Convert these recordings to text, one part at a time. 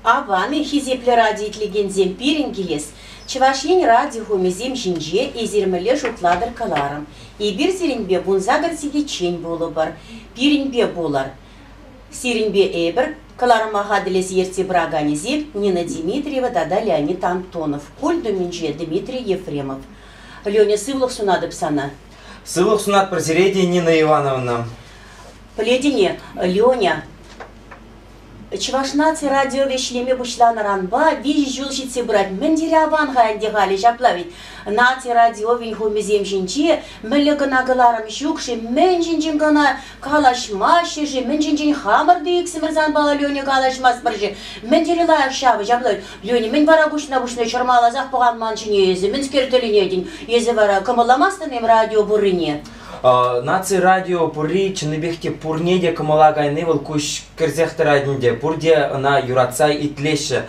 Аван, хисеплӗ радио итлекенсем, пирӗн килес Чӑваш Ен радиохумӗсем ҫинче эсир мӗнле шутлатӑр кӑларӑм. Эпир сирӗнпе пунса кӗр сехетчен пулӑпӑр. Пирӗнпе пулӑр. Сирӗнпе эпир кӑларӑма хатӗрлес ертсе пыраканӗсем Нина Дмитриева тата Леонид Антонов. Культ умӗнче Дмитрий Ефремов. Леня, сывлӑх сунатӑп сана. Сывлӑх сунатпӑр сире те, Нина Ивановна. Пӗлетӗн-и, Леня, Чӑваш наци радиовӗ ӗҫлеме пуҫланӑранпа виҫӗ ҫул ҫитсе пырать. Мӗн тери аван-ха ӗнтӗ халӗ ҫапла вӗт. Наци радиовӗн хумӗсем ҫинче мӗнле кӑна кӑларӑм ҫук-ши, мӗншӗншӗн кӑна Калаҫма ҫӗрши мӗн ҫинчен хамӑр ӳксӗмӗр санпала Леня калаҫмастпӑр-ши? Мӗн тери лайӑх ҫавӑ ҫаплать. Леня мӗн вара куҫна-куҫне чӑрмаласах пӑхан ман ҫине эсӗ мӗнскер тӗлӗнетӗн? Эсӗ вара кӑмӑлламастӑн-им радио пуррине? Наци радио пурри чӑннипех те пурне те кӑмӑла кайни вӑл куҫ кӗрсех тӑрать ӗнтӗ, пурте ӑна юратса итлеҫҫӗ.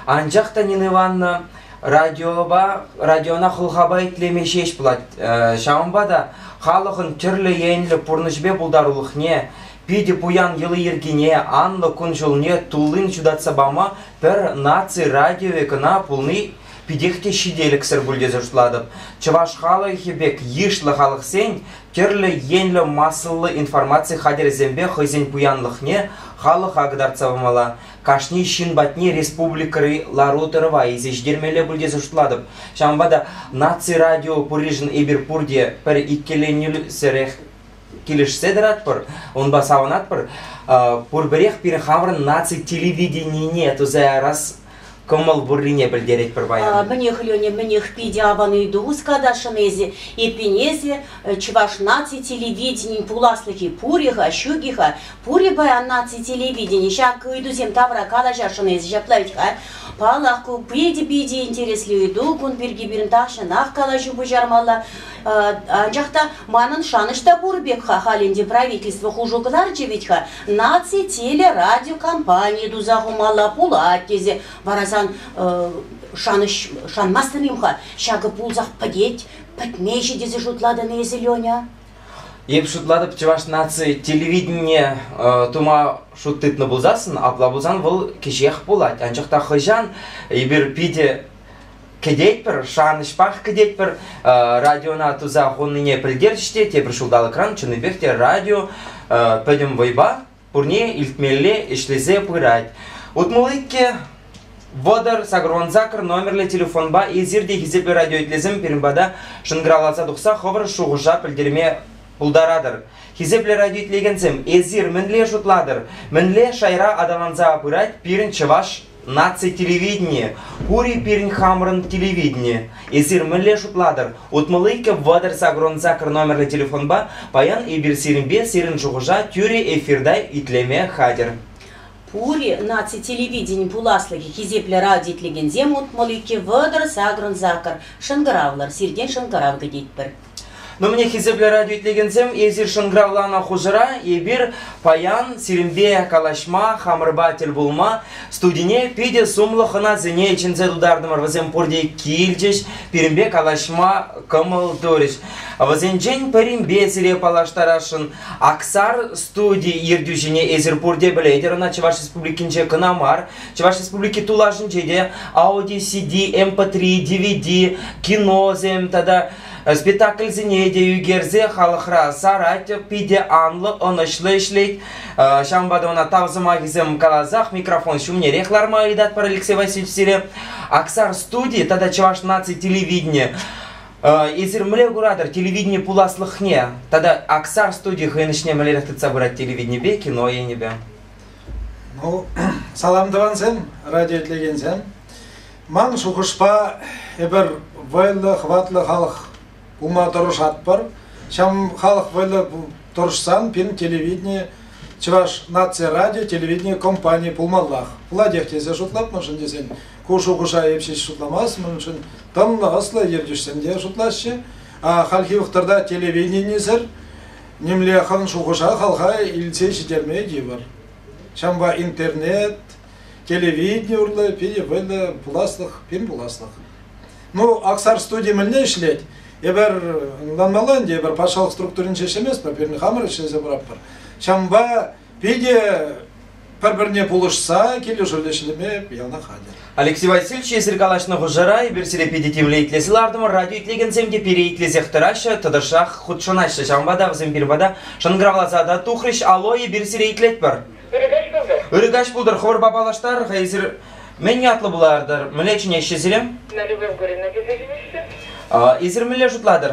Анчах та Нина Ивановна радиопа, радиона хӑлхапа итлеме ҫеҫ пулать. Ҫавӑнпа та халӑхӑн тӗрлӗ енлӗ пурнӑҫӗпе пултарулӑхне, питӗ пуян йӑли-йӗркине, анлӑ кун-ҫулне туллин ҫутатса пама пӗр наци радиовӗ кӑна пулни питех те ҫителӗксӗр пуль тесе шутлатӑп. Чӑваш халӑхӗ пек йышлӑ халӑхсен тӗрлӗ енлӗ массӑллӑ информаци хатӗрӗсемпе хӑйсен пуянлӑхне халӑха кӑтартса памалла. кашни ҫын патне республикӑри лару-тӑрӑва илсе ҫитермелле пуль тесе шутлатӑп. Ҫавӑнпа та наци радио пуришӗн эпир пурте пӗр иккӗленӳсӗрех килӗшсе тӑратпӑр, унпа савӑнатпӑр. Пурпӗрех пирӗн хамӑрӑн наци телевиденине туса ярас кӑмӑл пуррине пӗлтеретпӗр паян. Мӗнех, Леня, мӗнех, питӗ аван ыйту хускатасшӑн эсӗ. Эппин, эсӗ чӑваш наци телевиденийӗн пуласлӑхӗ пур-и-ха, ҫук-и-ха, Пурӗ паян наци телевидени ҫак ыйтусем тавра калаҫасшӑн эсӗ ҫапла вӗт-ха. Паллах, ку питӗ питӗ интереслӗ ыйту. Кун пирки пирӗн тахҫанах калаҫу пуҫармалла. Анчах та манӑн шанӑҫ та пур пек-ха халь ӗнтӗ правительство хушу кӑларчӗ вӗт-ха. Наци телерадиокомпанийӗ туса хумалла пулать тесе. Вара сан шанӑҫ шанмастӑн-им-ха? Ҫакӑ пулсах пӗтет, пӗтмеҫӗ тесе шутлатӑн эсӗ, Леня? Эп шутлатӑп, чӑваш наци телевиденине тума шут тытнӑ пулсассӑн, апла пулсан вӑл кӗҫех пулать. Анчах та хӑҫан эпир питӗ кӗтетпӗр, шанӑҫпах кӗтетпӗр, радиона туса хуннине пӗлтерчӗҫ те тепӗр ҫулталӑкран чӑннипех те радио пӗтӗм вӑйпа пурне илтмелле ӗҫлесе пырать. Утмӑлли те вӑтӑр сакӑрван-сакӑр номерлӗ телефонпа эсир те хисеплӗ радиоитлесем пирӗн пата шӑнкӑравласа тухса хӑвӑр шухӑша пӗлтерме пултаратӑр. Хисеплӗ радиоитлекенсем, эсир мӗнле шутлатӑр, мӗнле шайра аталанса пырать пирӗн чӑваш Наци телевиденийӗ пур-и пирӗн хамӑрӑн телевидени? Эсир мӗнле шутлатӑр? Утмӑл иккӗ вӑтӑр сакӑрӑн сакӑр номерлӗ телефонпа паян эпир сирӗнпе сирӗн шухӑша тӳрӗ эфирта итлеме хатӗр. Пур-и наци телевиденин пуласлӑхӗ хисеплӗ радио итлекенсем утмӑл иккӗ вӑтӑр сакӑрӑн сакӑр шӑнкӑравлӑр сиртен шӑнкӑрав кӗтетпӗр. Мӗне хисеплӗ радио итлекенсем, эсир шӑнкӑравланӑ хушӑра эпир паян сирӗнпе калаҫма, хамӑрпа тӗл пулма студине питӗ сумлӑ хӑнасене чӗнсе тутартӑмӑр. Вӗсем пурте килчӗҫ, пирӗнпе калаҫма кӑмӑл турӗҫ. Вӗсенчен пӗринпе сире паллаштарасшӑн. Аксар студи ертӳҫине эсир пурте пӗлетӗр, ӑна Чӑваш Республикинче кӑна мар, Чӑваш Республики тулашӗнче те Audi CD, MP3, DVD, киносем тата спектакльсене те ӳкерсе халӑхра сарать, питӗ анлӑ, ӑнӑҫлӑ ӗҫлет. Ҫавӑнпа та ӑна тав сӑмахӗсем каласах микрофон ҫумнерех ларма ыйтатпӑр Алексей Васильевич сире. Аксар студи тата Чӑваш наци телевидения Эсир мӗнле куратӑр телевидени пуласлӑхне тата Аксар студи хӑйӗн ӗҫне мӗнлерех тытса пырать телевиденипе, кино енӗпе? Ну, салам тӑвансем, радио итлекенсем. Ман шухӑшпа, эпир вӑйлӑ, хӑватлӑ халӑх пулма тӑрӑшатпӑр. Ҫам халӑх вӑйлӑ тӑрӑшсан пирӗн телевидени Чӑваш наци радио телевидени компании пулмаллах. Пулатех тесе шутлатмӑшӑн тесен ку шухӑша эп ҫеҫ шутламастмӑшӑн тӑнлӑ, ӑслӑ ертӳҫсем те шутлаҫҫӗ. А хальхи вӑхӑтра телевиденисӗр Нимле хӑн шухӑша хальха илсе ҫитерме тивӗр. Ҫавӑнпа интернет, телевидени урлӑ питӗ вӑйлӑ пуласлӑх, пин пуласлӑх. Ну, Аксар студи мӗнле ӗҫлет? Эпир ӑнланмалла ӗнтӗ, эпир патшалӑх структуринче ӗҫлеместпӗр, пирӗн хамӑр ӗҫлесе пыратпӑр. Ҫавӑнпа Питӗ пӗр-пӗрне пулӑшса килӗшӳллӗ ӗҫлеме яланах хатӗр. Алексей Васильевич, эсир калаҫнӑ хушӑра эпир сире питӗ тимлӗ итлесе лартӑмӑр, радио итлекенсем те пире итлесех тӑраҫҫӗ, тӑтӑшах хутшӑнаҫҫӗ. Ҫавӑнпа та вӗсем пирӗн пата шӑнкӑравласа та тухрӗҫ. Алло, эпир сире итлетпӗр. Ыркаҫ пултӑр. Ыркаҫ пултӑр, хӑвӑрпа паллаштар-ха эсир. Мӗн ятлӑ пулатӑр? Мӗнле чӗнеҫҫӗ сире? Налюбовгорина тесе чӗнеҫҫӗ. Эсир мӗнле шутлатӑр?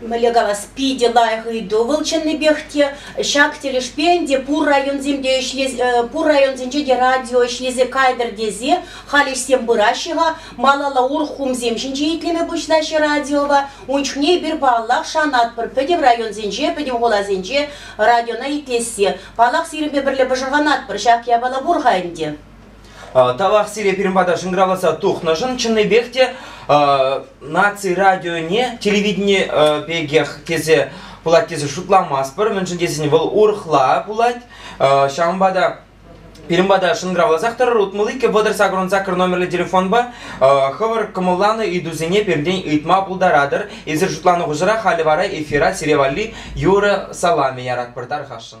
Мӗнле калас, питӗ лайӑх ыйту вӑл чӑннипех те. Ҫак тӗлӗшпе ӗнтӗ пур районсемпе ӗҫлес, э, пур районсенче те радио ӗҫлесе кайтӑр тесе халь ӗҫсем пыраҫҫӗ-ха. Малалла урӑх хумсем ҫинче итлеме пуҫлаҫҫӗ радиопа. Ун чухне эпир, паллах, шанатпӑр пӗтӗм районсенче, пӗтӗм хуласенче радиона итлессе. Паллах, сирӗнпе пӗрле пӑшӑрханатпӑр, ҫак япала пур-ха ӗнтӗ. Тавах сире пирӗн пата шӑнкӑравласа тухнӑшӑн. Чӑннипех те наци радионе, телевидени пекех тесе пулать тесе шутламастпӑр, мӗншӗн тесен вӑл урӑхла пулать. Ҫавӑнпа та Пирӗн пата шӑнкӑравласах тӑрӑр вӑтӑр сакӑрӑн сакӑр номерлӗ телефонпа хӑвӑр кӑмӑлланӑ ыйтусене пиртен ыйтма пултаратӑр. Эсир шутланӑ хушӑра халӗ вара эфира сире валли юрӑ саламӗ яратпӑр, тархасшӑн.